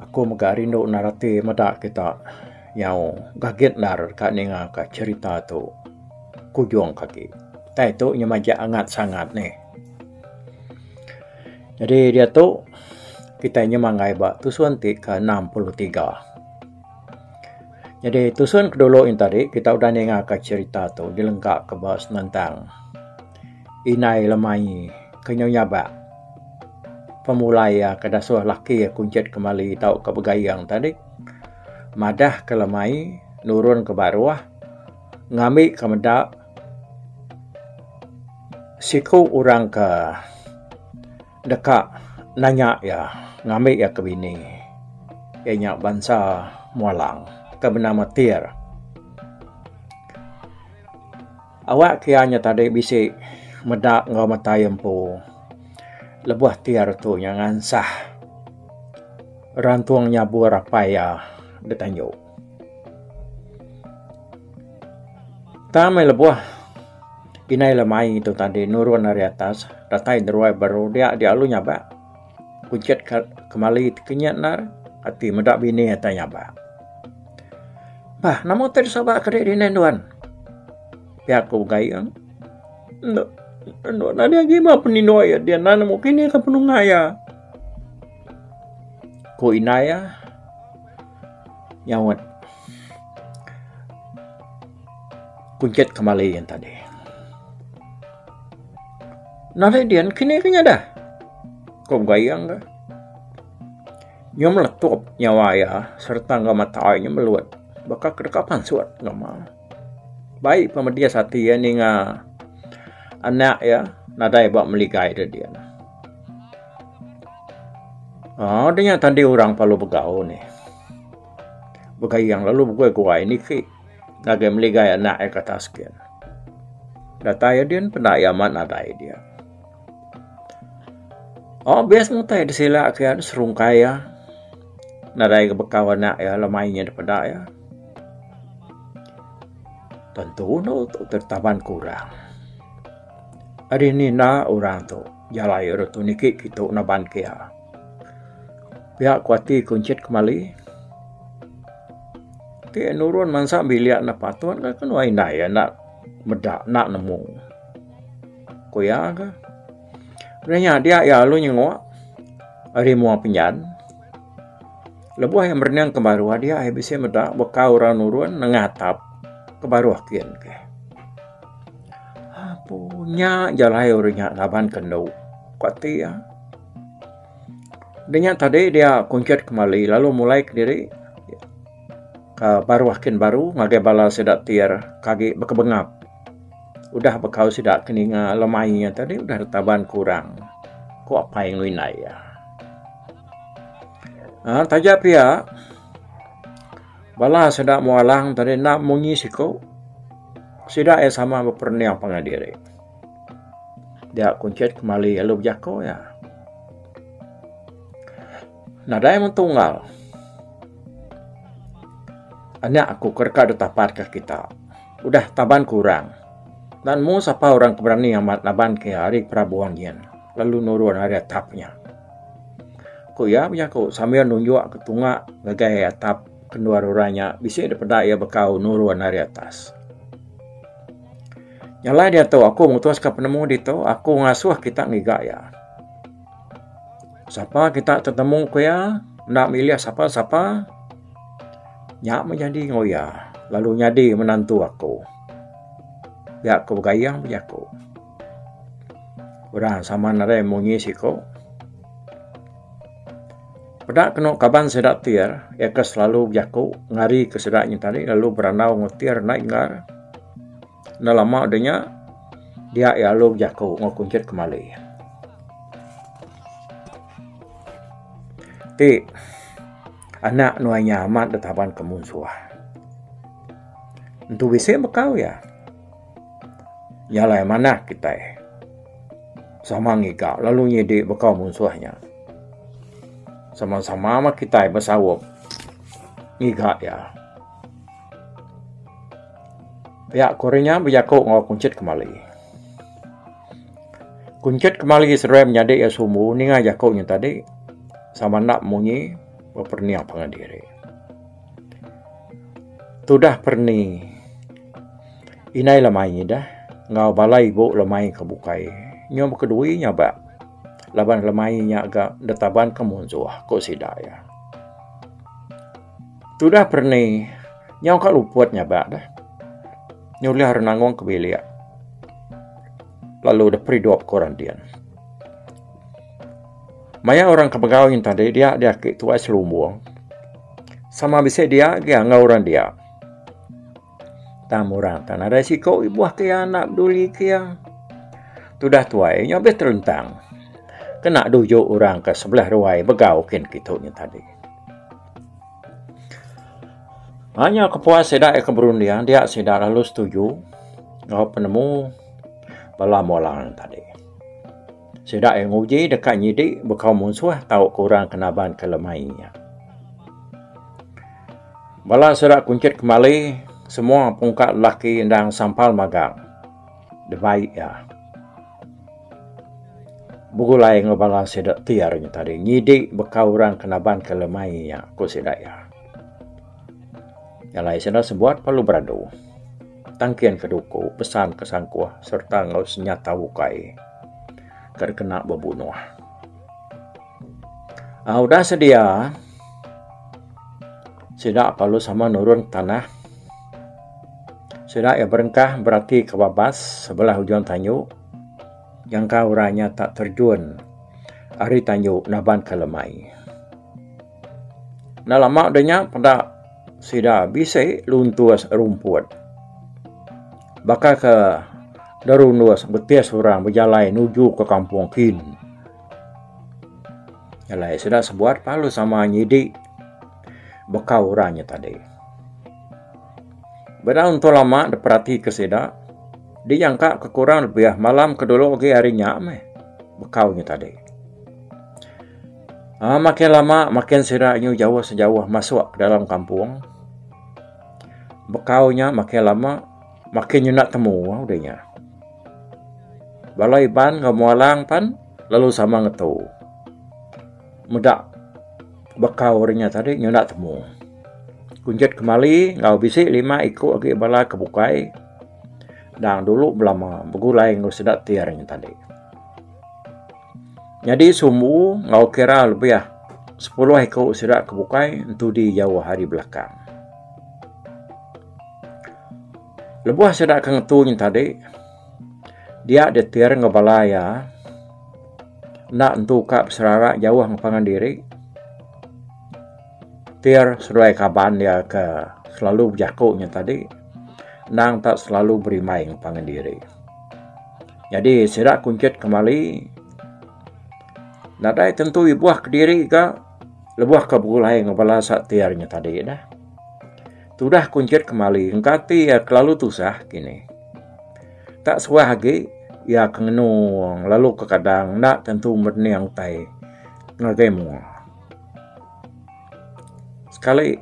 Aku mega rindu endar ati meda kita nyau gagit endar ka ninga ka cherita tu kujung ke agi. Utai tu nyau majak angat sangat ni. Jadi diatu kitai nyau manggai ba tusun ti ke enam puluh tiga. Jadi tusun ke dulu yen tadi kita udah ninga ka cherita tu dilengka ke ba senentang. Indai lemai ke nyau nyabak pemulai iya ke dasuh laki iya kunchit kemali tau ke begayeng tadi madah ke lemai nurun ke baruh ngambi ke meda siku orang ke deka nanya iya ngambi iya ke bini iya nya bansa Mualang ke benama Tir. Awak kia nya tadi bisi meda enggau metai empu lebuh ti hari tu nya ngansah rantung nyabur apai iya da tanju. Tang meh lebuh inai lemai tu tadi nurun ari atas datai deruai baru dia dialu nyabak. Kuncit ka kemali ti kinyit endar ati meda bini atai nyabak. Bah nama utai di Sabak kadi di indai nuan? Pia ku Gayeng. Enda enda nyadi agi ba penindok iya dian nan nemu kini ka penungak iya. Ku indai iya nyaut kuncit kemali yang tadi. Nadai dian kini ke nyadah. Ko Gayeng ka. Nya meletup nyawa iya sereta enggau mata iya nya melut baka ke deka pansut enggau ma. Bai pa medis ati iya ninga anak iya nadai ba meligai da dian. Aaa da nya tadi orang lalu begau nih. Begayeng lalu beguai-guai niki ngagai meligai anak iya ke atas ke. Datai iya dian peda iya amat nadai dia. Oh best ngutai da sila aku iya serungkai iya nadai ga bekau anak iya lalu main iya da peda iya tentu anu tu taban kurang ari ni enda orang tu jalai orang tu niki kitu naban ke iya pia ku ati ku encit kemali ti nurun mansa bilik enda patut lalu ke nengah indai iya enda meda enda nemu. Ku iya ga. Udah nya dia iya lalu nyengok ari mua penyan. Lebuh iya merening ke baruh dia iya bisi meda baka orang nurun nengah atap ke baruh kin ke. Apu nya ja alai uri nya laban kendu ku ati iya. Udah nya tadi dia kunchit kemali lalu mulai kediri ke baruh kin baru ngagai bala sida ti agi bekebengap. Udah bekau sida ke ninga lemai iya tadi udah ditaban ke orang, ku apai enggau indai iya. Ha, taja pia, bala sida Muang Alang tadi enda munyi siku. Sida iya sama beperening pangan diri. Dia kuncit kemali lalu bejako iya. Nadai mung tunggal. Anak aku ke deka ditapatka kita. Udah taban ku orang. Nan mu sapa orang ke berani amat naban ke ari perabuan nyin lalu nurun ari atap nya. Ku iya bejaku sambil nunjuk ke tunga ngagai atap kendur orang nya bisi dipeda iya bekau nurun ari atas. Nyalai diatu aku mutus ke penemu ditu aku ngasuh kita ngiga iya. Sapa kita tetemu ku iya enda milih sapa-sapa. Nya menyadi enggau iya lalu nyadi menantu aku. Pia ku Gayeng bejaku. Udah sama nerei munyi siku. Peda kenu kaban sida Tir, iya ke selalu bejaku ngari ke sida nyin tadi lalu berandau enggau Tir nai engar. Enda lama udah nya dia iya lalu bejaku enggau Kunchit kemali. Ti. Anak nuai nya amat ditaban ke munsuh. Entu bisi bekau iya. Nya alai manah kitai. Sama ngiga lalu nyidi bekau munsuh nya. Sama-sama mah kitai besaup ngiga iya. Pia kori nya bejaku enggau kunchit kemali. Kunchit kemali seruai menyadi iya sumbu ninga jaku nya tadi sama enda munyi beperniah pangan diri. Tudah perni inai lemai ngidah enggau bala ibu lemai ke bukai nyau baka dui nyaba laban lemai nya ga ditaban ke munsuh ku sida iya. Tudah perni nyau ka luput nyabak dah. Nyulih ari nangong ke bilik. Lalu dah peridup ke orang din. Maya orang ke begau nyin tadi dia di aki tuai selumbung. Sama bisi dia agi enggau orang dia. Tam orang tak nadai siko ibuh ke iya enda peduli ke iya. Tudah tuai nya habis teruntang. Kena dujuk orang ke sebelah ruai begau kin kitu nya tadi. Hanya kepuas sida ke berunding dia sida lalu setuju ngau penemu bala molang tadi. Sida iya nguji deka nyidi baka munsuh tau ke orang ke naban ke lemai iya. Bala sida kunchit kemali semua pungka lelaki endang sampal magang debai iya. Begulai enggau bala sida ti hari nya tadi nyidi baka orang ke naban ke lemai iya, ku sida iya. Nyalai sida sebuat lalu beradu. tangkin ke duku, pesan ke sangkuh sereta enggau senyata ukai ke dikena bebunuh. Um udah sedia sida lalu sama nurun tanah sida iya berengkah berati ke babas sebelah ujung tanyu nyangka orang nya tak terjun ari tanyu naban ke lemai. Enda lama deh nya peda sida bisi luntus rumput. Baka ke derunus betis orang bejalai nuju ke kampung kin. Jalai sida sebuat lalu sama nyidi baka orang nya tadi. Beda entu lama deh perati ke sida dijangka ke kurang lebih malam ke dulu agi hari nya meh bekau nya tadi. Ah makin lama makin sida nyu jauh sejauh masuk dalam kampung. Bekau nya makin lama makin nyenda temu deh nya. Bala Iban enggau Muang Alang pan lalu sama ngetu meda bekau deh nya tadi nyenda temu. Kunjet kemali enggau bisi lima iku agi bala ke bukai dang dulu belama begulai enggau sida ti hari nya tadi. Nyadi sumbu enggau kira lebih sepuluh iku sida ke bukai entudi jauh ari belakang. Lebuh sida ke ngetu nya tadi dia ditir enggau bala iya enda entu ka beserara jauh enggau pangan diri tir seduai kaban dia ke selalu bejaku nya tadi endang ta selalu berimbai enggau pangan diri. Nyadi sida kunchit kemali nadai tentu ibuh kediri ga lebuh ke begulai enggau bala sa ti ari nya tadi dah. Tudah kunchit kemali engka ati iya kelalu tusah kini. Ka suah agi iya ke ngenu lalu ke kadang enda tentu merening utai ngagai menua. Sekali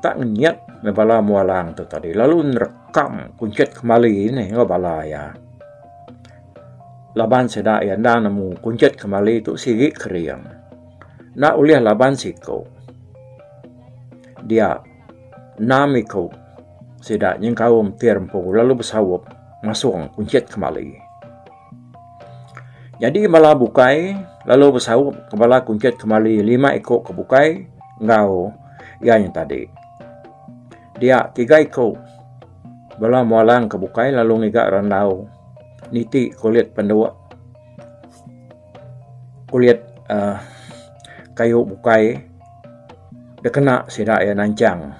tak ngenyit me bala mua lang tu tadi lalu nerekam kunchit kemali ne enggau bala iya. Laban sida iya enda nemu kunchit kemali tu sigi kering. Enda ulih laban siku dia enam iku sida nyengkaum ti rempu lalu besaup ngasung kunchit kemali. Nyadi bala bukai lalu besaup ke bala kunchit kemali lima iku ke bukai enggau iya nya tadi. Dia tiga iku bala mualang ke bukai lalu ngiga randau niti kulit pendu kulit aaa kayu bukai da kena sida iya nanchang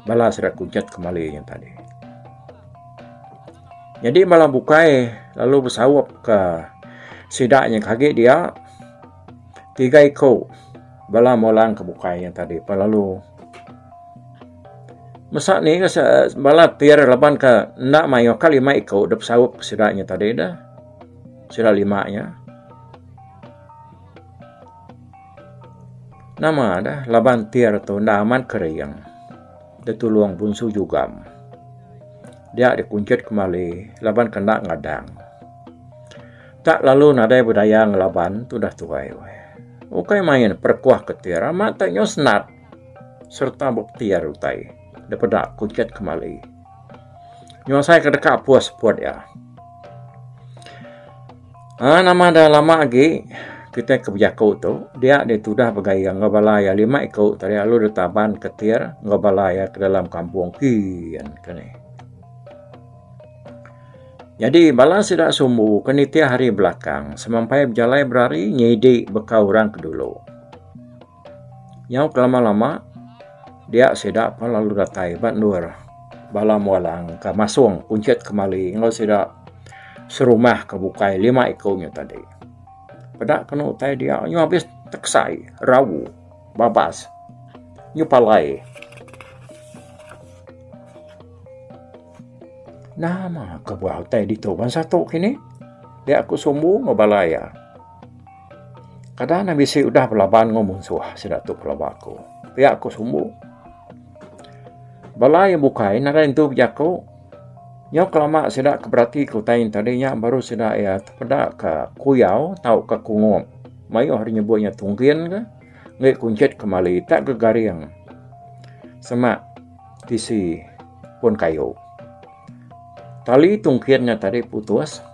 bala sida kunchit kemali nya tadi. Nyadi bala bukai lalu besaup ka sida nya ke agi dia tiga iku bala meh orang ke bukai nya tadi pe lalu masa ni bala ti ira laban ka enda mayuh ka lima iku dep saup ka sida nya tadi da sida lima nya nama da laban ti ira tu enda amat ka riyang da tulong bunsu jugam. dia dikunchit kemali laban ke enda ngadang. Tak lalu nadai bedaya ngelaban tu dah tuai weh. Ukai main perekuah ketir amat tak nyau senat serta bepetir utai depeda kunchit kemali. Nyau asai ke deka pus seput iya. Ah nama dah lama agi kitai ke bejaku tu dia deh tudah begai iya enggau bala iya lima iku tadi lalu deh taban ketir enggau bala iya ke dalam kampung kiin ka ni. Nyadi bala sida sumbu ke nitih hari belakang semampai bejalai berari nyidi baka orang ke dulu. Nyau kelama-lama dia sida pun lalu datai ba endur bala mualang ka masong kunchit kemali enggau sida serumah ka bukai lima iku nya tadi. Peda kenu utai dia nyau abis teksai rawu babas nyau palai. Nama kebuah utai ditu ban satu kini dia ku sumbu enggau bala iya. Kada ne bisi udah belaban enggau munsuh sida tu pelaba aku. Pia ku sumbu. Bala iya bukai nadai nentu bejaku. Nyau kelama sida ke berati ke utai nya tadi nya baru sida iya tepeda ka kuyau tauka kungup. Mayuh ari nyebut nya tunggin ka ngi kunchit kemali tak gegaring semak tisi pun kayu. Tali tunggin nya tadi putus.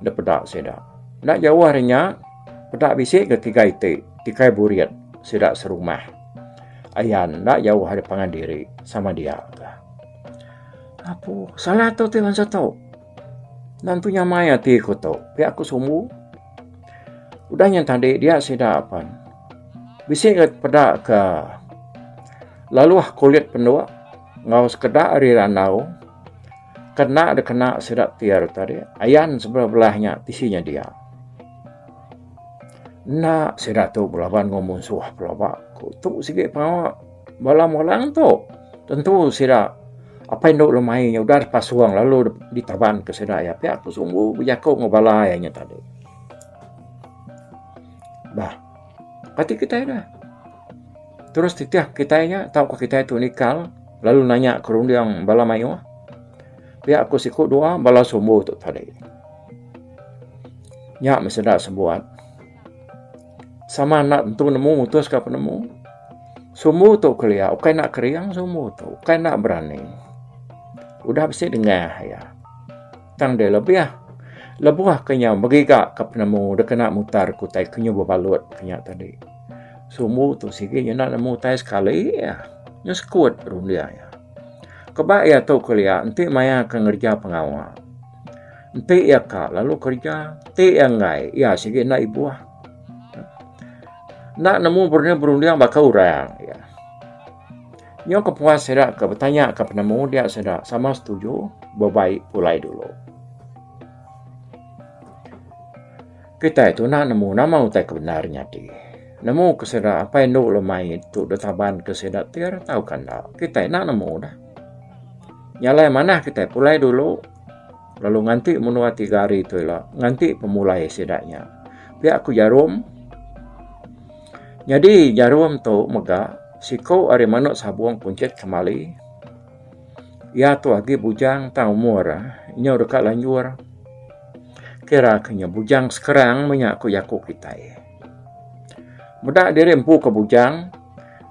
Enda peda sida. Enda jauh ari nya, peda bisi ke tiga iti tikai burit sida serumah. Ayan enda jauh ari pangan diri sama dia ka. Apu salah tu ti bansa tu. Nan tu nyamai ati ku tu. Pia ku Sumbu. Udah nya tadi dia sida pen bisi ke peda ke laluh kulit penduk enggau sekeda ari randau. Kena dikena sida Tier tadi, ayan sebelah belah nya tisi nya dia. Enda sida tu belaban enggau munsuh pelaba. Ku tu sigi pengawa bala Mulang tu. Tentu sida apai indu lemai nya udah dipasung lalu ditaban ke sida iya pia ku sumbu bejaku enggau bala iya nya tadi. Bah, pati kitai dah. Terus titih kitai nya tauka kitai tu nikal lalu nanya ke runding bala mayuh. Pia ku siku dua bala sumbu tu tadi. Nya meh sida sebuat. Sama enda tentu nemu mutuska penemu. Sumbu tu kelia ukai enda kering sumbu tu, ukai enda berani. Udah bisi dengah iya. Tang deh lebih lebuh ke nyau begiga ke penemu dikena mutar ke utai ke nyu bebalut ke nya tadi. Sumbu tu sigi nyenda nemu utai sekali ah. Nyu sekut runding iya. Keba iya tu kelia enti maya ke ngereja pengawa. Enti iya ka lalu kereja ti iya enggai iya sigi enda ibuh. Enda nemu berunding berunding baka orang iya. Nyau ke puas sida ke betanya ke penemu dia sida sama setuju bebai pulai dulu. Kitai tu nak nemu nama utai ke bendar nyadi. Nemu ke sida apai endu lemai tu ditaban ke sida tir tauka enda. Kitai nak nemu dah. Nya alai manah kitai pulai dulu lalu nganti menua tiga hari tu ila nganti pemulai sida nya. Pia ku Jarom. Nyadi Jarom tu mega Siku ari manuk sabung kunchit kemali. Iya tu agi bujang tang umur nyu deka lanjur. Kira ke nyu bujang sekerang menya ku jaku kitai. Meda diri empu ke bujang,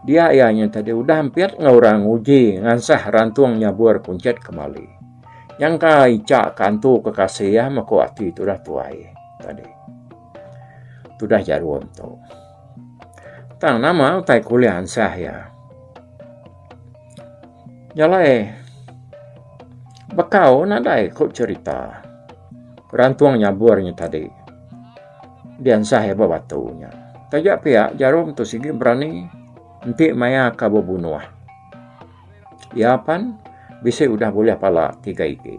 dia iya nyu tadi udah ampit enggau orang nguji ngansah rantung nyabur kunchit kemali. Nyangka icha ke antu ke kasih iya meku ati tudah tuai tadi. Tudah jarum tu. Tang nama utai kuliah ansah iya. Jalai bekau nadai ku cerita. Rantung nyabur nya tadi di ansah iya ba batu nya. Taja pia jarum tu sigi berani enti maya ka bebunuh. Iya pan bisi udah bulih pala tiga igi.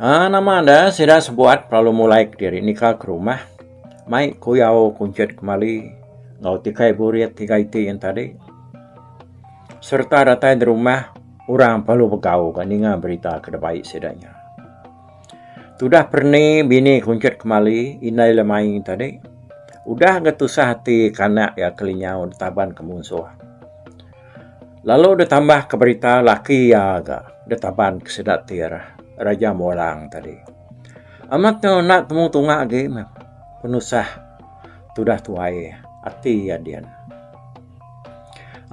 Ah, nama anda sida sebuat pelalu mulai kediri nika ke rumah mai kuyau kunchit kemali enggau tikai burit tiga iti yen tadi sereta datai di rumah orang pelalu begau ka ninga berita ke deba ai sida nya. Tudah perni bini kunchit kemali indai le mai tadi udah ga tusah ati ke anak iya ke linyau ditaban ke munsoh. Lalu deh tambah ke berita laki iya ga deh taban ke sida ti arah Raja Mulang tadi. Amat tu enda temu tunga agi meh penusah tudah tuai ati iya din.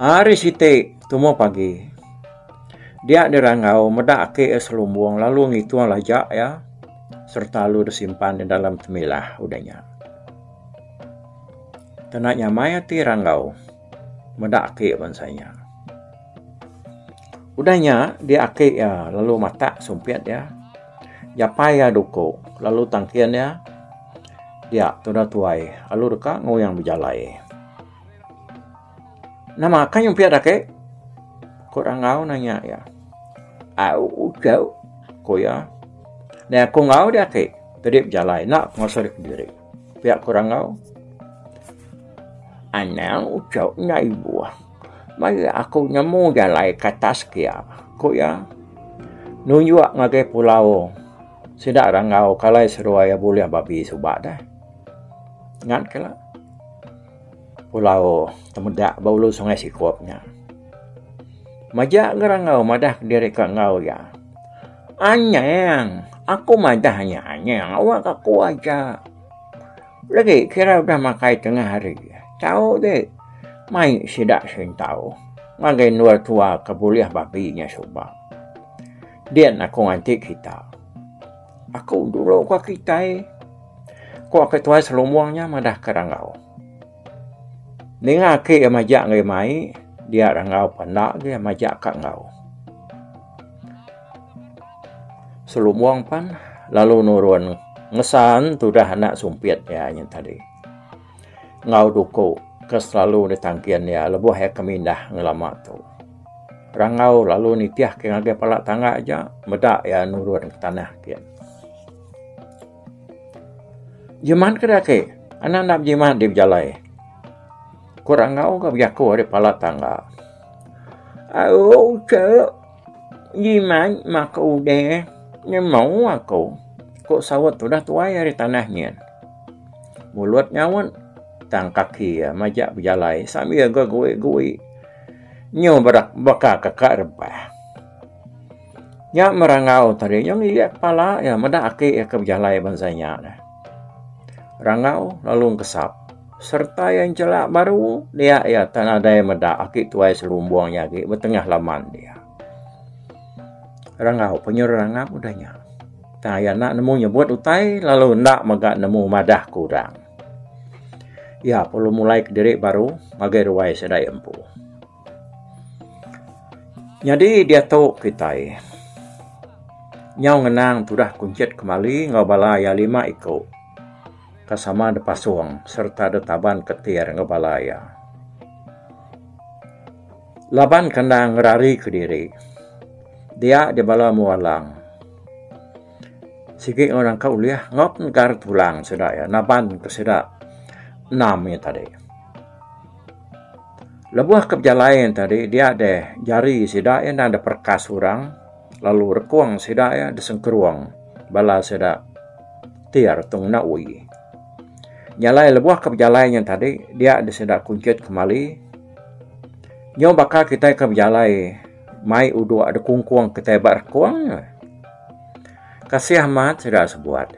Ari siti tumu pagi dia di rangau meda aki iya selumbung lalu ngitung laja iya serta lalu deh simpan iya dalam temilah udah nya. Tena nyamai ati rangau. meda aki bansa inya. Udah inya di aki iya lalu matak sumpit iya japai iya duko lalu tangkin iya dia tuda tuai lalu deka nguyang bejalai. Nama ka nyumpit aki ko Rangau nanya iya. Au udah ko iya. Dah ko enggau dia aki jadi bejalai enda penguasa diri. Pia ku rangau. Anang ucau nya ibuh. Maya aku nemu jalai ke atas kia, ku iya. Nunjuk ngagai pulau. Sida rangau ke alai seruai iya bulih babi suba deh. Ngan ke la. Pulau Temedak ba ulu sungai Sikup nya. Majak ga rangau madah diri ke enggau iya. Anyang. Aku madah nya anyang awak aku aja. Legi kira udah makai tengah hari. Tau de mai sida sentau ngagai endur tua ke bulih babi nya suba. Din aku nganti kita. Aku dulu ka kitai, ku Ketua Selumong nya madah ke rangau. Ninga aki iya majak enggau iya mai, dia ira enggau pun enda agih iya majak ka enggau. Selubong pan lalu nurun ngesan tudah anak sumpit iya nyen tadi. Enggau duku ke selalu ditangkin iya lebuh iya ke mindah ngelama tu. Rangau lalu nitih ke ngagai pala tangga aja meda iya nurun ke tanah kiye. Jimat keda ake anak enda bejimat dek bejalai ku orang enggau ka bejaku ari pala tangga auu che jimat ma ke udai nyemau aku ku sawat udah tuai ari tanah nyin mulut nyaunt tang kaki iya majak bejalai sambil ga goi goi nyu baka ka rebah. Nya merangau tadi nya ngilik kepala iya meda aki iya ke bejalai bansa nya deh. Rangau lalu ngesap sereta iya nchelak baru dia iya tak nadai meda aki tuai selumbung nya agi betengah laman dia. Rangau pe nyerangang udah nya. Tang iya enda nemu nyebut utai lalu enda mega nemu madah ke orang. Iya perlu mulai kediri baru ngagai ruai sida iya empu. Nyadi diatu kitai nyau ngenang tudah kunchit kemali enggau bala iya lima iku ke sama da pasung sereta da taban ketir enggau bala iya. Laban ke enda ngerari ke diri dia di bala mua lang sigi enggau nangka ulih nyap ngagar tulang sida iya naban ke sida enam nya tadi. Lebuh ke bejalai nya tadi dia deh jari sida iya enda deh perekas orang lalu rekung sida iya deh sengkerong bala sida ti ari tung enda uih. Nya alai lebuh ke bejalai nya tadi dia deh sida kunchit kemali nyau baka kitai ke bejalai mai udok deh kungkung kitai ba rekung kasih amat sida sebuat.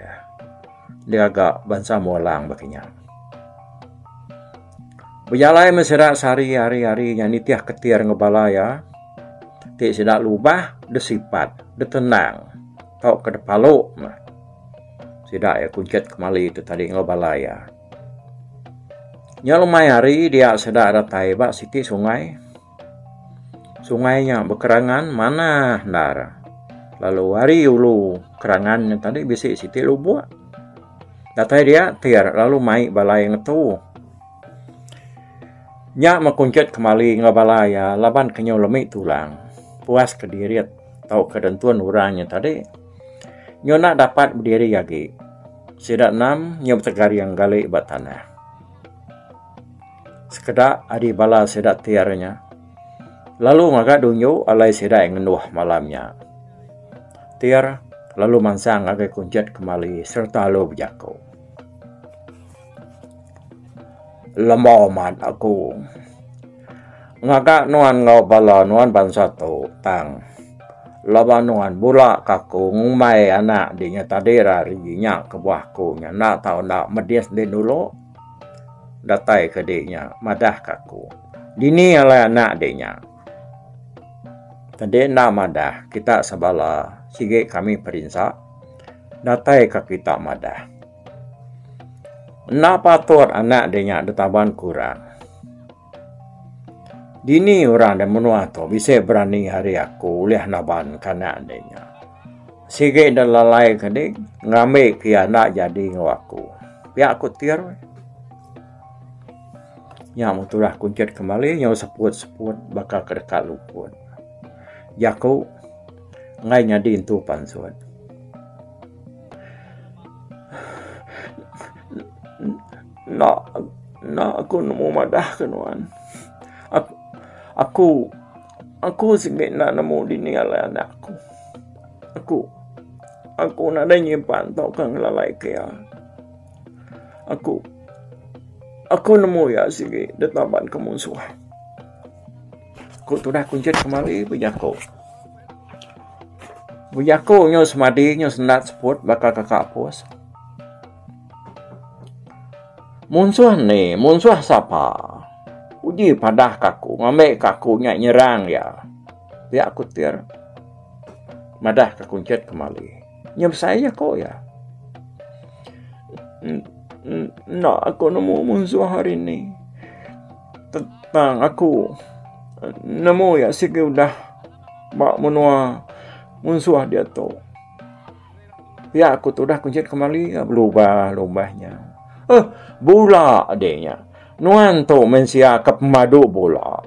digaga bansa Ambo Alang baka nya. Bejalai meh sida sehari hari-hari nya nitih ketir enggau bala iya ti sida lubah deh sipat, deh tenang tauka deh palu meh sida iya kunchit kemali tu tadi enggau bala iya. Nya lumai hari dia sida datai ba siti sungai. Sungai nya bekerangan manah endar lalu ari ulu kerangan nya tadi bisi siti lubok datai dia tir lalu mai balai ngetu. Nya meh kunchit kemali enggau bala iya laban ke nyau lemi tulang puas kedirit tau ke dentun orang nya tadi nyau enda dapat bediri agi sida enam nyau betegaring gali ba tanah. Sekeda ari bala sida ti ari nya lalu ngaga dunyu alai sida iya ngenduh malam nya. Tir lalu mansang ngagai kunchit kemali sereta lalu bejaku. Lema mat aku. Ngaga nuan enggau bala nuan bansa tu tang laban nuan bula ke aku ngumbai anak dinya tadi ira ari inya kebuah aku nya enda tau enda medis dulu. Datai ke dek nya madah ke aku. Dini alai anak dek nya. Tadi enda madah kita sebala sigi kami perinsa datai ke kita madah. Enda patut anak dek nya ditaban kurang. Dini orang da menua tu bisi berani ari aku ulih nabanka anak ande nya. Sigi enda lalai ke ding ngambi ke iya enda jadi enggau aku. Pia ku Tir. Nya meh tudah kunchit ke mali nyau seput-seput baka ke deka luput. Jaku enggai nyadi entu pansut. Enda enda aku nemu madah ke nuan. Aku aku sigi enda nemu dini alai anak aku. Aku aku nadai nyimpan tauka ngelalai ke iya. Aku aku nemu iya sigi ditaban ke munsuh. Ku tudah kunchit kemari bejaku. Bejaku nyau semadi nyau senda seput baka kaka Aposs. Munsuh enti munsuh sapa? Uji padah ka aku ngambi ka aku nya nyerang iya. Pia ku Tir madah ka kunchit kemali. Nyau besai jaku iya. Enda aku nemu munsuh hari ini. Tang aku nemu iya sigi udah ba menua munsuh diatu. Pia aku tudah kujit kemali ke belubah lubah nya. Eh, bula deh nya. Nuan tu mensia ke pemadu bula.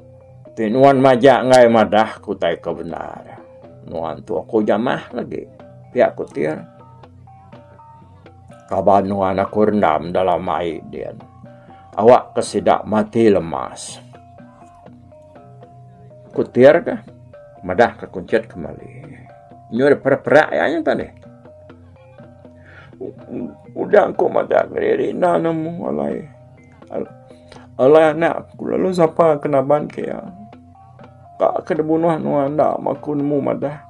Ti nuan majak enggai madah ku tai ke bendar. Nuan tu aku jamah lagi. Pia aku tin. Kaban nuan aku rendam dalam ai din. Awak ke sida mati lemas. Kutir ka madah ka kunchit kemali. Nyu dah perak perak ya nya tadi. Udah ku madah ngeri ina nemu alai. Alai anak ku lalu sapa ke naban ke ya. Ka ke da bunuh nua enda ma ku nemu madah.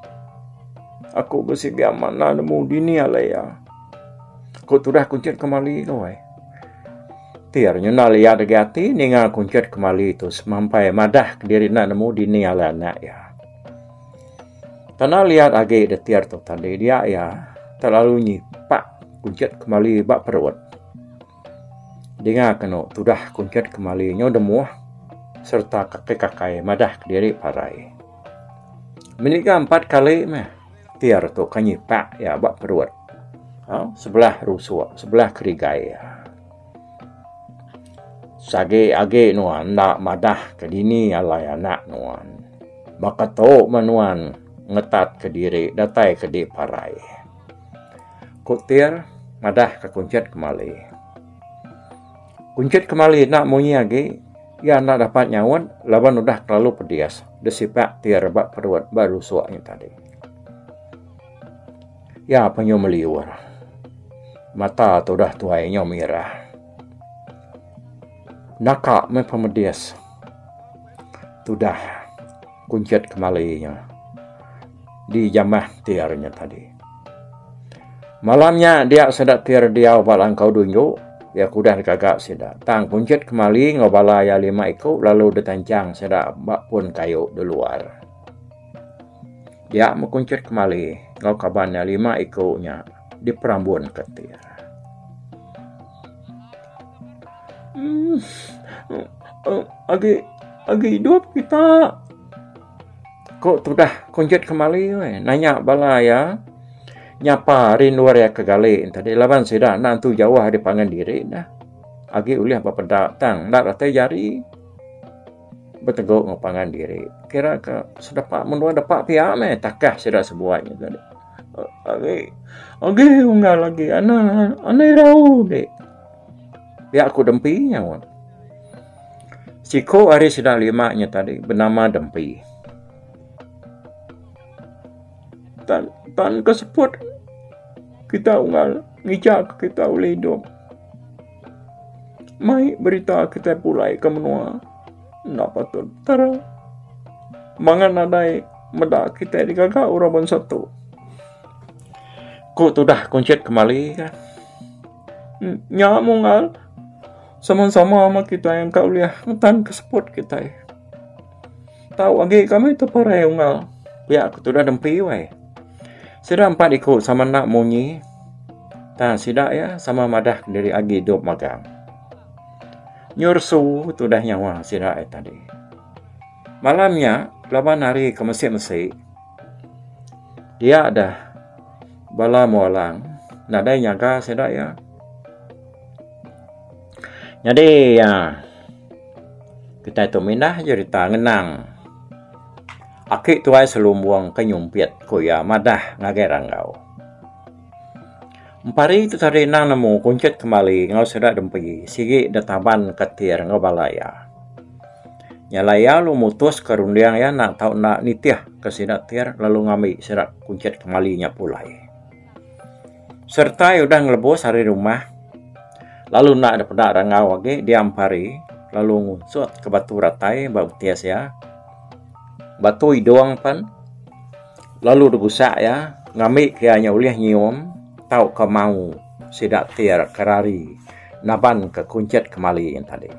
Aku besi ga manah nemu dini alai ya. Ku tudah kunchit kemali. Tir nyunal iya dagi ati ninga kunchut kemali tu semampai madah kediri enda nemu dini alai anak iya. Tanah liat agi deh Tir tu tang deh dia iya telalu nyipak kunchut kemali ba perut. Dinga kenu tudah kunchut kemali nyu demuh sereta kaki kakai madah kediri parai. Meniga empat kali meh. Tir tu ke nyipak iya ba perut aaa sebelah rusuk sebelah kerigai iya. Sagi agi nuan enda madah ke dini alai anak nuan. Baka tu meh nuan ngetat ke diri datai ke di parai. Ku Tir madah ke kunchit kemali. Kunchit kemali enda munyi agi, iya enda dapat nyaut laban udah kelalu pedis disipak ti rebak perut ba lusuk nya tadi. Iya penyu meliur. Mata tu udah tuai nyau mirah. Naka meh pemedis. Tudah. Kunchit kemali nya di jamah tir nya tadi. Malam nya dia sida tir diau ba langkau dunju, iya kudah digaga sida. Tang kunchit kemali enggau bala iya lima iku lalu ditanchang sida ba pun kayu di luar. Dia meh kunchit kemali enggau kaban iya lima iku nya diperambunka tir. Agi agi idup kita. Ku tudah kunjit kemali nanya bala iya nyapa rindu ari aka gali tadi laban sida enda entu jauh ari pangan diri neh agi ulih bepeda tang enda datai jari betegu enggau pangan diri kira ka sedepa menua depa pia meh takah sida sebuai. Agi agi unggal agi ana ana irau di. Pia ku Dempi nyaut. Siku ari sida lima nya tadi benama Dempi. Tan tan ke seput kita unggal ngija ke kita ulih idup. Mai berita kita pulai ke menua. Enda patut tara. Mangan nadai meda kitai digaga orang bansa tu. Ku tudah kuncit kemali kan. Nya mungal sama-sama ama kitai engka ulih ngetan ke seput kitai. Tau agi kami teperai ungal pia ku tudah dempi wai. Sida empat iku sama enda munyi. Ta sida iya sama madah diri agi dop magang. Nyursu tudah nyawa sida ai tadi. Malam nya laban hari ke mesi-mesi dia deh bala mulang nadai nyaga sida iya. Nyadi iya kitai tu mindah jerita ngenang aki tuai selumbung ke nyumpit ku iya madah ngagai randau. Empari tu tadi endang nemu kunchit kembali enggau sida dempi sigi deh taban ketir enggau bala iya. Nya alai iya lalu mutuska runding iya enda tau enda nitih ke sida tir lalu ngambi sida kunchit kembali nya pulai. Sereta iya udah ngelebus ari rumah lalu enda deh peda rangau agi dia empari lalu ngunsutka batu ratai ba betis iya. Batu idung pen. lalu debusak iya ngambi ke iya nya ulih nyium tauka mau sida ti ira ke rari nabanka kunchit kemali nya tadi.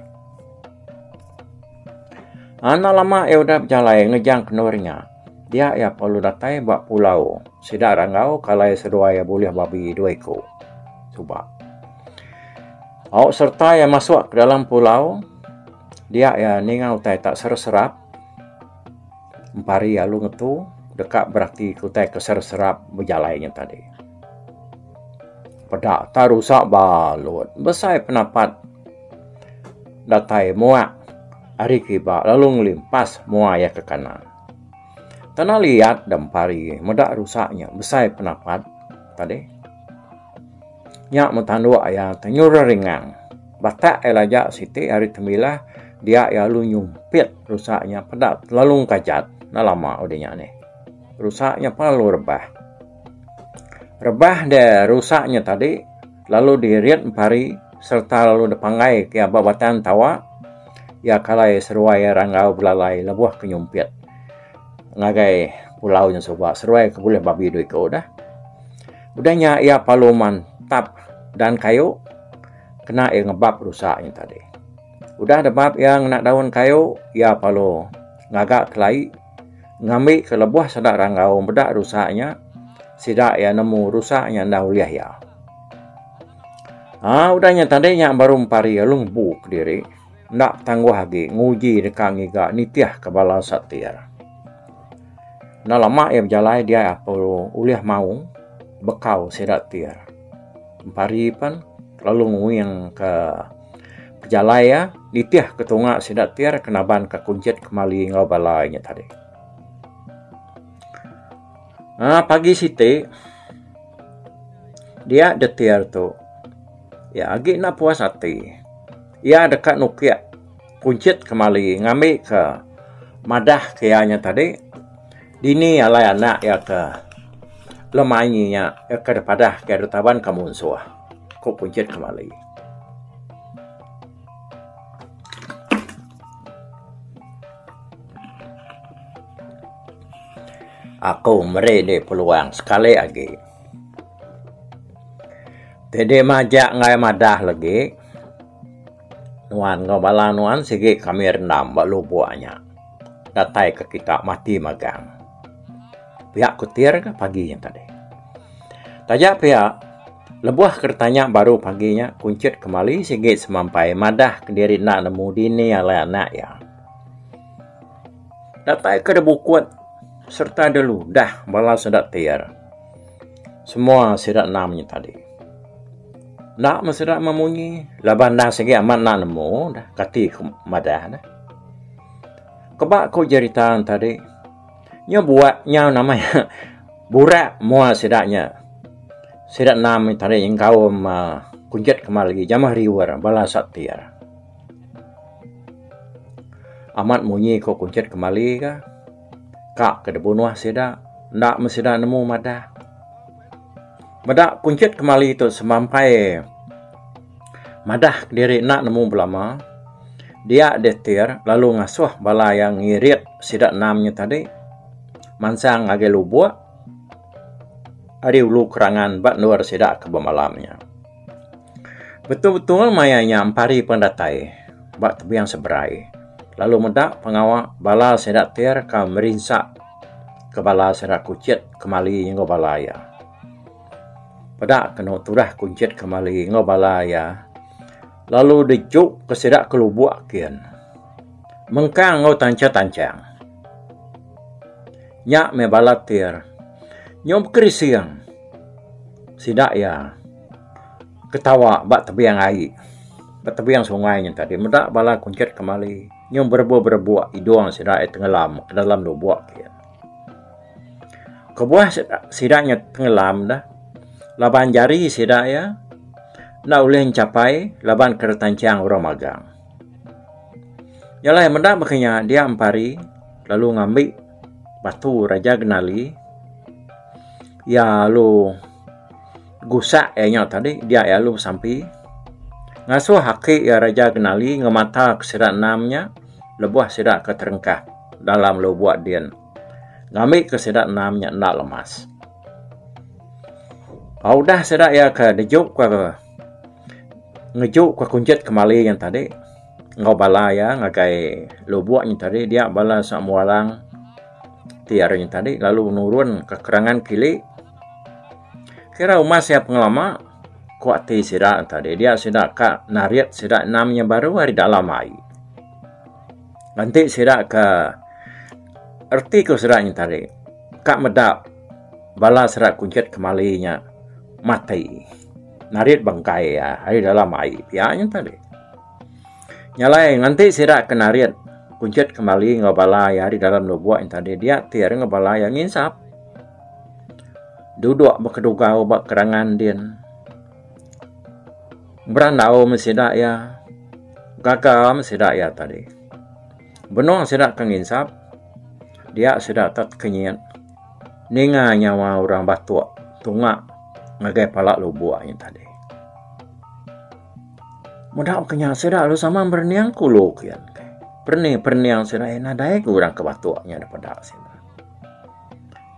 Enda lama iya udah bejalai ngejang kendur nya, dia iya perlu datai ba pulau sida ira enggau ke alai seduai iya bulih babi dua iku suba. Au sereta iya masuk ke dalam pulau, dia iya ninga utai ta serap-serap. Empari alu ngetu deka berati ke utai ke serap-serap bejalai nya tadi. Peda ta rusa balut. Besai penapat datai muak ari kiba lalu ngelimpas mua iya ke kanan. Tanah liat da Empari meda rusa nya besai penapat tadi. Nya mun tanduk iya tu nyura ringang. Batak iya lajak siti ari Tembilah dia iya lalu nyumpit rusa nya peda lalu engkajat. Enda lama udah nya nih. Rusa nya pun lalu rebah. Rebah dia rusa nya tadi lalu dirit empari sereta lalu dipanggai ke iya ba batang tawa iya kalai seruai iya ranggau belalai lebuh ke nyumpit ngagai pulau nya suba. Seruai ke bulih babi dua iku dah. Udah nya iya palu man tap dan kayu kena iya ngebap rusa nya tadi. Udah debap iya ngena daun kayu iya palu ngaga kelai ngambi ke lebuh sida ranggau meda rusa nya sida iya nemu rusa nya enda ulih iya. Aa udah nya tadi nya baru empari iya lalu ngebu kediri. enda betangguh agi nguji deka ngiga nitihka bala satir. Enda lama iya bejalai diai Apo ulih maung bekau sida tir. Empari pen lalu nguingka pejalai iya nitihka tunga sida tir ke nabanka kunchit kemali enggau bala inya tadi. Aaa pagi siti dia jetir tu iya agi enda puas ati. Iya deka nukik Kunchit kemali ngambika madah ke iya nya tadi, dini alai anak iya ke lemanyi nya iya ke dipadah ke ditaban ka munsuh, ku Kunchit kemali. Aku meri indi peluang sekali agi. Teddy majak enggai madah legi. Nuan enggau bala nuan sigi kami rendam ba lubok nya. Datai ke kita mati magang. Pia kutir ke pagi nya tadi. Taja pia lebuh ke ditanya baru pagi nya kunchit kemali sigi semampai madah ke diri enda nemu dini alai anak iya. Datai ke da bukut sereta da ludah bala sida tear. Semua sida enda munyi tadi. Enda meh sida meh munyi laban enda sigi amat enda nemu dah kati ke madah ne. Keba ku jerita ne tadi nya buak nya nama iya burak mua sida nya sida enda munyi tadi nyengkaum aaa kunjet kemari jamah riwer bala sa tear. Amat munyi ko kunchit kembali ka. Ka ke dibunuh sida enda meh sida nemu madah. Meda kunchit kembali tu semampai madah diri enda nemu belama dia ditir lalu ngasuh bala iya ngirit sida enam nya tadi mansang ngagai lubok. ari ulu kerangan ba endur sida ke bemalam nya. Betul-betul maya nya empari pendatai ba tebing seberai lalu meda pengawa bala sida tir ka merinsa ke bala sida kuchit kemali enggau bala iya. Peda kenu tudah kuchit kemali enggau bala iya lalu dijuk ke sida ke lubok kin mengkang enggau tanchang-tanchang. Nya meh bala tir. Nyau bekerising sida iya ketawa ba tebing ai, ba tebing sungai nya tadi meda bala kunchit kemali nyau berebuk-berebuk idung sida iya tengelam ke dalam lubuk ti. Kebuah sida nya tengelam dah laban jari sida iya enda ulih ngechapai laban ke retanchang orang magang. Jalai meda baka nya dia empari lalu ngambi batu Raja Genali iya lalu gusak iya nya tadi dia iya lalu besampi ngasuh aki iya Raja Genali ngemata ke sida enam nya lebuh sida ke terengkah dalam lubuk din ngambi ke sida enam nya enda lemas. Ba udah sida iya ke dejup ke ngeju ka kunjit kemali nya tadi enggau bala iya ngagai lubok nya tadi dia bala samu arang ti ari nya tadi lalu nurun ka kerangan kili kira uma sia pengelama ku ati sida tadi dia sida ka narit sida enam inya baru ari dalam ai enti sida ka reti ku sida nya tadi ka meda bala sida kunjit kemali nya matik. Narit bengkai iya ari dalam ai pia nya tadi. Nyalai nganti sida ke narit kunchit kembali enggau bala iya ari dalam lubuk nya tadi dia tir enggau bala iya nginsap. Duduk ba kedugau ba kerangan din. Berandau meh sida iya. Gaga meh sida iya tadi. Benung sida ke nginsap dia sida ke tekenyit. Ninga nyawa orang batok tunga ngagai pala lubok ayen tadi. Meda ke nya sida lalu sama berening ke ulu ke iya enggai. Perening perening sida iya nadai ke orang ke batok nya da peda sida.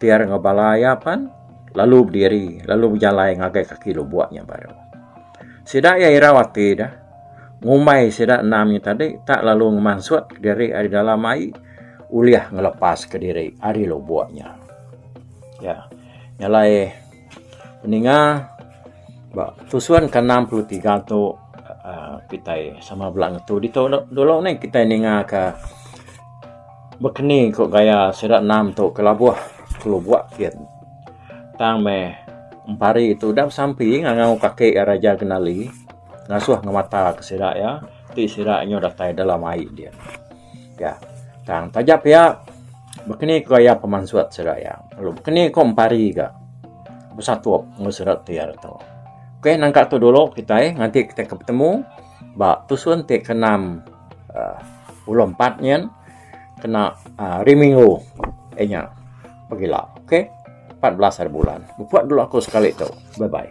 Ti ari enggau bala iya pan lalu bediri lalu bejalai ngagai kaki lubok nya baru. Sida iya irau ati deh. Ngumbai sida endang nya tadi tak lalu ngemansut diri ari dalam ai ulih ngelepaska diri ari lubuk nya. Ya. Nya alai peninga ba tusun ke enam puluh tiga tu aaa kitai sama bala ngetu ditu dulu neh kitai ninga ka bekeni ku gaya sida enam tu ke labuh ke lubuk gin. Tang meh empari tu udah besampi ngangau kaki iya Raja Genali. Ngasuh ngemata ke sida iya ti sida nyu datai dalam ai dia. Ga tang taja pia bekeni ko iya pemansut sida iya lalu bekeni ko empari ga besatup enggau sida ti ari tu. Ok nangka tu dulu kitai nganti kitai ke betemu ba tusun ti ke enam aaa pulu empat nyin kena hari minggu eh nya pegila ok empat belas ari bulan. Mupuk dulu aku sekali tu. Bye bye.